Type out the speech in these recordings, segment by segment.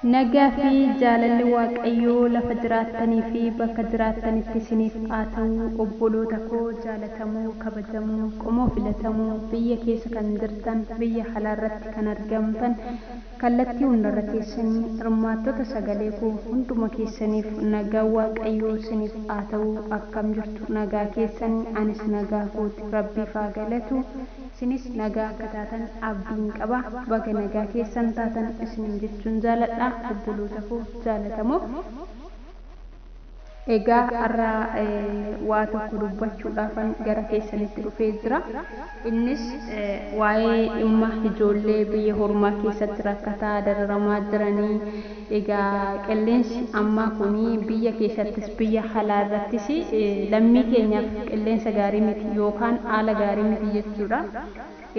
Nagaa fi jaalalli Waaqayyoo lafa jiraattanii fi bakka jiraattanitti isiniif haa ta'u obboloota koo jaalatamoo, kabajamoo, qomoo filatamoo, biyya keessa kan jirtan, biyya alaa irratti kan argamtan, kallattii hunda irra teessanii hirmaattota sagalee koo hunduma keessaniif nagaan Waaqayyoo isiniif haa ta'u akkam jirtu nagaa keessanii anis nagaa kooti rabbiif haa galatu. isinis nagaa akka taatan abdiin qaba baga nagaa keessan taatan isiniin jechuun jaaladha obboloota koo jaalatamoo egaa har'a waa tokko dubbachuudhaafan gara keessanitti dhufee jira innis waa'ee dhimma ijoollee biyya hormaa keessatti rakkataa dararamaa jiranii Egaa qilleensi ammaa kun biyya keessattis biyya halaa irrattis lammii keenyaaf qilleensa gaarii miti yookaan aala gaarii miti jechuudha.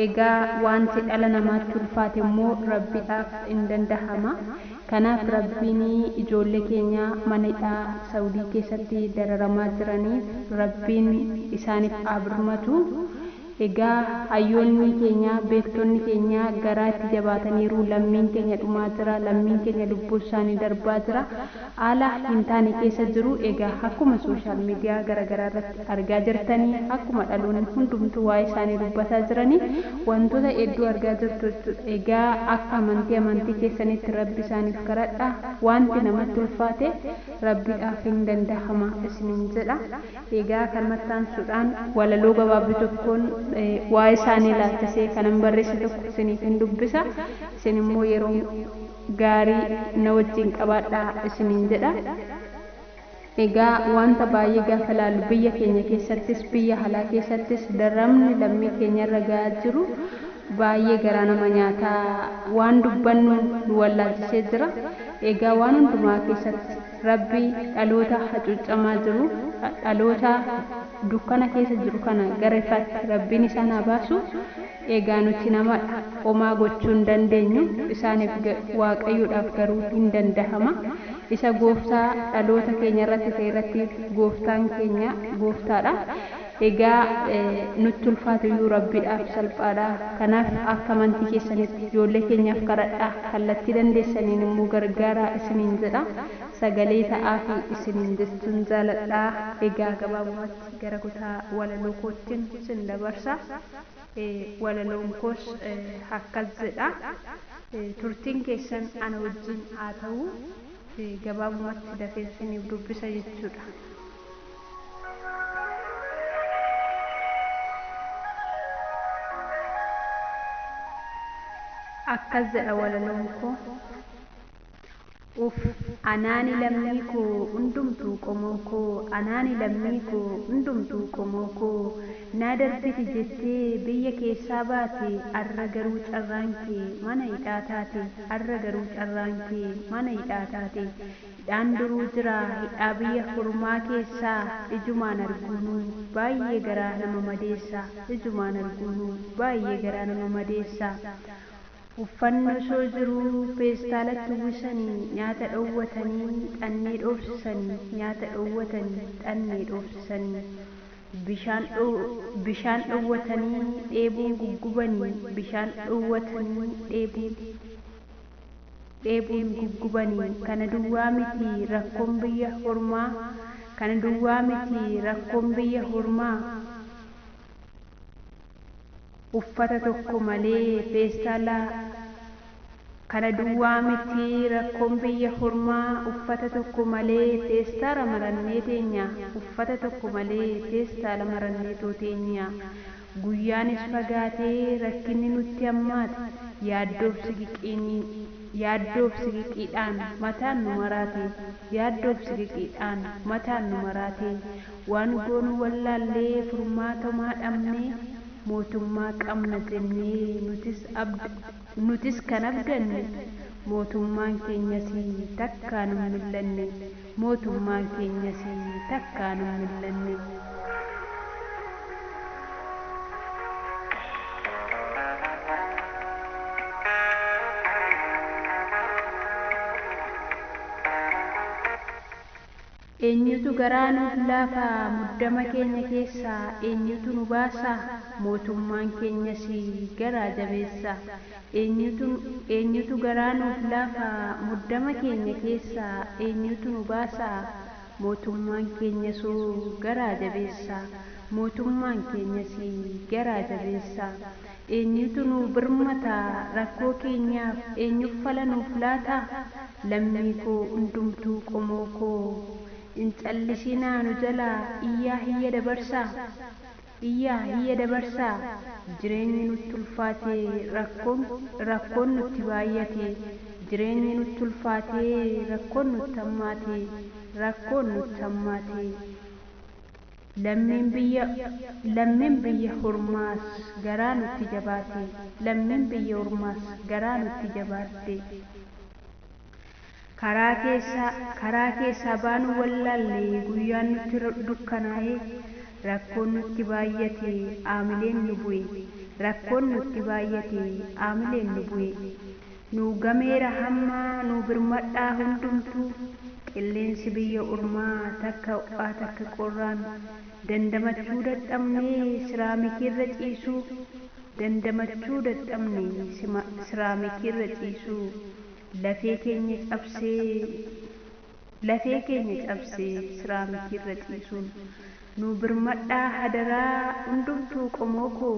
Egaa waanti dhala namaatti ulfaate immoo Rabbidhaaf in dandahama. Kanaaf Rabbiin ijoollee keenya mana hidhaa Sa'udii keessatti dararamaa jiraniif Rabbiin isaaniif haa birmatu. Egaa hayyoonnii keenyaa, beektonni keenyaa garaa itti jabaataniiru, lammiin keenya dhumaa jira, lammiin keenya lubbuun isaanii darbaa jira, haala hin taane keessa jiru, egaa akkuma social media gara garaa irratti argaa jirtani, akkuma dhaloonni hundumtuu waa'ee isaanii dubbataa jirani, wantoota hedduu argaa jirtu jechuudha. Egaa akka amantii amantii keessaniitti Rabbi isaaniif kadhadhaa, waanti namatti ulfaate Rabbiidhaaf hin dandahama isiniin jedha. Egaa kanumatti aansuudhaan walaloo gabaabduu tokkoon waa'ee isaanii ilaalchisee kanan barreesse tokko isiniifin dubbisa. Isin immoo yeroo gaarii na wajjin qabaadhaa isiniin jedha. Egaa wanta baay'ee gaafa ilaallu biyya keenya keessattis biyya alaa keessattis dararamni lammii keenyarra ga'aa jiru baay'ee garaa nama nyaata. Waan dubbannu nu wallaalchisee jira. Egaa waan hundumaa keessatti. Rabbi dhaloota hacuuccamaa jiru, dhaloota dukkana keessa jiru kana gara ifaatti Rabbiin isaan haa baasu. Egaa nuti namadha. Homaa gochuu hin dandeenyu. Isaaniif, Waaqayyoodhaaf garuu hin dandahama. Isa gooftaa dhaloota keenya irratti ta'e irratti gooftaan keenya gooftaadha. Egaa nutti ulfaatuyyuu Rabbiidhaaf salphaadha. Kanaaf akka amantii keessanitti ijoollee keenyaaf kadhadhaa, kallattii dandeessaniin immoo gargaaraa isiniin jedha. Sagalee ta'aafii isiniin jechuun jaaladha. Egaa gabaabumatti gara kutaa walaloo koottin sin dabarsa. Walaloon koos akkas jedha. Turtiin keessan ana wajjin haa ta'u. Gabaabumatti dafeen siniif dubbisa jechuudha. Akkas jedha walaloon koo. Uuff anaani lammii koo undumtuu qomoo koo anaani lammii koo undumtuu qomoo koo naa darbiti jettee biyya keessaa baate arra garuu carraan kee mana hidhaa taate arra garuu carraan kee mana hidhaa taate Hidhaan duruu jira hidhaa biyya hurmaa keessaa ijumaan arguunuu baayyee garaa nama madeessa ijumaan arguunuu baayyee garaa nama madeessa uffanni osoo jiruu peestaalatti uwwisanii nyaata dhoowwatanii xannee dhoofsisanii nyaata dhoowwatanii xannee dhoofsisanii bishaan bishaan dhoowwatanii dheebuun guggubanii bishaan dhoowwatanii dheebuun dheebuun guggubani kana duwwaa miti rakkoon biyya hormaa kana duwwaa miti rakkoon biyya hormaa uffata tokko malee feestaala kana duwwaa miti rakkoon biyya hormaa uffata tokko malee feestaala marannee teenya uffata tokko malee feestaala maranneetoo teenya Guyyaanis fagaatee rakkinni nutti hammaate yaaddoof ciqiqiin yaaddoof ciqiqiidhaan mataan nu maraate yaaddoof ciqiqiidhaan mataan nu maraate waan goonu wallaallee furmaata homaa dhabnee mootummaa qabna jennee nutis abd Nutis kan abdanne mootummaan keenyas takkaa nun mil'anne mootummaan keenyas takkaa nun mil'anne. Eenyutu garaa nuuf laafa? Muddama keenya keessaa eenyutu nu baasa? Mootummaan keenyas garaa jabeessa. Eenyutu, eenyutu garaa nuuf laafa? Muddama keenya keessaa eenyutu nu baasa? Mootummaan keenyasoo garaa jabeessa. Mootummaan keenyas garaa jabeessa. Eenyutu nuu birmata? Rakkoo keenyaaf eenyuf fala nuuf laata? Lammii koo hundumtuu qomoo koo Hin callisinaa nu jalaa iyyaa hiyya dabarsaa Iyyaa hiyya dabarsaa Jireenyi nutti ulfaatee Rakkoon rakkoon nutti baayyate Jireenyi nutti ulfaatee Rakkoon nutti hammaate Rakkoon nutti hammaate. Lammiin biyya Lammiin biyya hormaas garaa nutti jabaate Lammiin biyya hormaas garaa nutti jabaatte Karaa keessaa Karaa keessaa baanuu wallaalle Guyyaan nutti dukkanaa'e Rakkoon nutti baayyate Aamileen nu bu'e Rakkoon nutti baayyate Aamileen nu bu'e Nuu gameera hammaa nuu birmadhaa hundumtuu qilleensi biyya ormaa takka ho'aa takka qorraan dandamachuu dadhabnee siraamikiirra ciisuu dandamachuu dadhabne sima siraamikiirra ciisuu lafee keenya cabsee lafee keenya cabse siraamikiirra ciisuun nuu birmadhaa hadaraa hundumtuu qomoo koo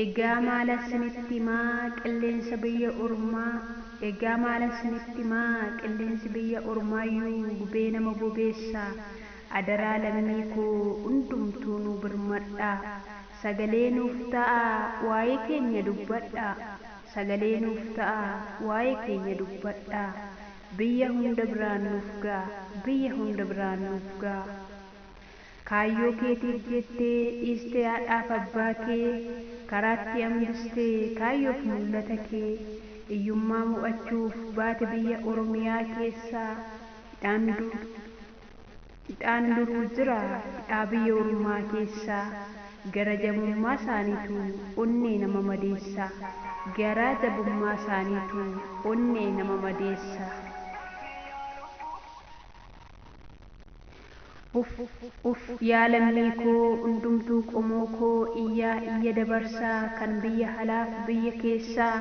Egaa maalan sinitti himaa qilleensa biyya ormaa Egaa maalan sinitti himaa qilleensi biyya ormaayyuu gubee nama bobeessa Adaraa lammii koo hundumtuu nuu birmadhaa Sagalee nuuf ta'aa waa'ee keenya dubbadhaa Sagalee nuuf ta'aa waa'ee keenya dubbadhaa Biyya hunda biraan nuuf ga'a Biyya hunda biraan nuuf ga'a. Kaayyoo keetiif jettee dhiistee haadhaaf abbaa kee karaatti hambistee kaayyoof mul'ata kee iyyummaa mo'achuuf baate biyya Oromiyaa keessa hidhaan hidhaan duruu jira hidhaa biyya ormaa keessa gara jabummaa saaniitu onnee nama madeessa garaa jabummaa saaniitu onnee nama madeessa. Uff uff yaa lammii koo hundumtuu qomoo koo iyyaa iyya dabarsaa kan biyya halaaf biyya keessaa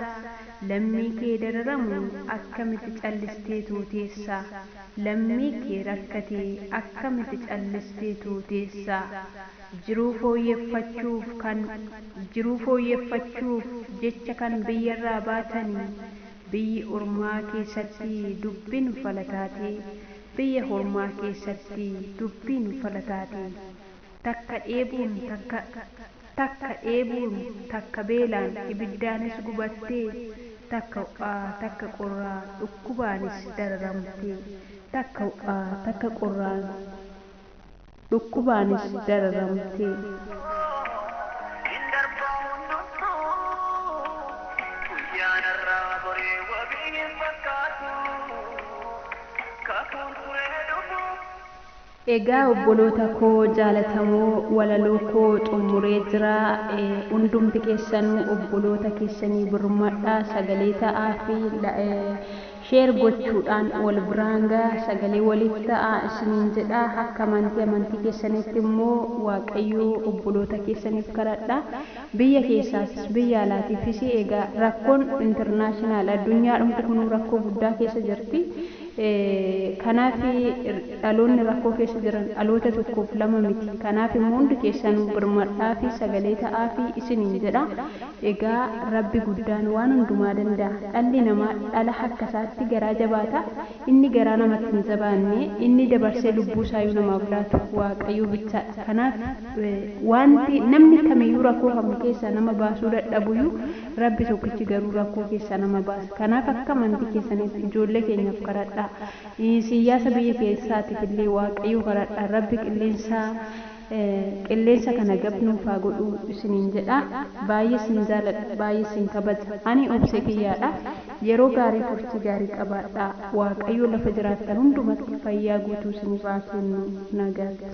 lammii kee dararamu akkamiti callisteetoo teessaa lammii kee rakkate akkamiti callisteetoo teessaa jiruu fooyyeffachuuf kan jiruu fooyyeffachuuf jecha kan biyyarraa baatani biyyi ormaa keessatti dubbin fala taatee Biyya hormaa keessatti dubbiin falataati. Takka dheebuun takka takka dheebuun takka beelaan ibiddaanis gubattee, takka ho'aa takka qorraa dhukkubaanis dararamtee, takka ho'aa takka qorraan. dhukkubaanis dararamtee. Egaa obboloota koo jaalatamoo walaloo koo xummuree jira hundumti keessanuu obboloota keessanii birmadhaa sagalee ta'aafi. Share gochuudhaan wal biraan ga'a sagalee waliif ta'aa isiniin jedha akka amantii amantii keessaniitti immoo waaqayyoo obboloota keessaniif kadhadha biyya keessaafis biyya alaatiifis egaa rakkoon international addunyaadhumti kunuu rakkoo guddaa keessa jirti kanaaf dhaloonni rakkoo keessa jiran dhaloota tokkoof lama miti kanaaf immoo hundi keessanuu birmadhaafi sagalee ta'aafi isiniin jedha Egaa Rabbi guddaan waan hundumaa danda'a. Dhalli namaa dhala akka isaatti garaa jabaata. Inni garaa namatti hin jabaanne, inni dabarsee lubbuu isaayuu namaaf laatu Waaqayyoo bichaadha. Kanaaf waanti namni kamiyyuu rakkoo kam keessaa nama baasuu dadhabuyyuu Rabbi tokkichi garuu rakkoo keessaa nama baasa. Kanaaf akka amantii keessaniitti ijoollee keenyaaf kadhadhaa. Siiyyaasa biyya keessaatiif illee Waaqayyoo kadhadhaa. Rabbi qilleensa Qilleessa kana gab nuuf haa godhuu isiniin jedha baay'ee sin jaaladha baay'ee sin kabaja ani obse kiyyaadha yeroo gaarii turtii gaarii qabaadhaa waaqayyoo lafa jiraattan hundumatti fayyaa guutuu isiniif haa kennu nagaatti.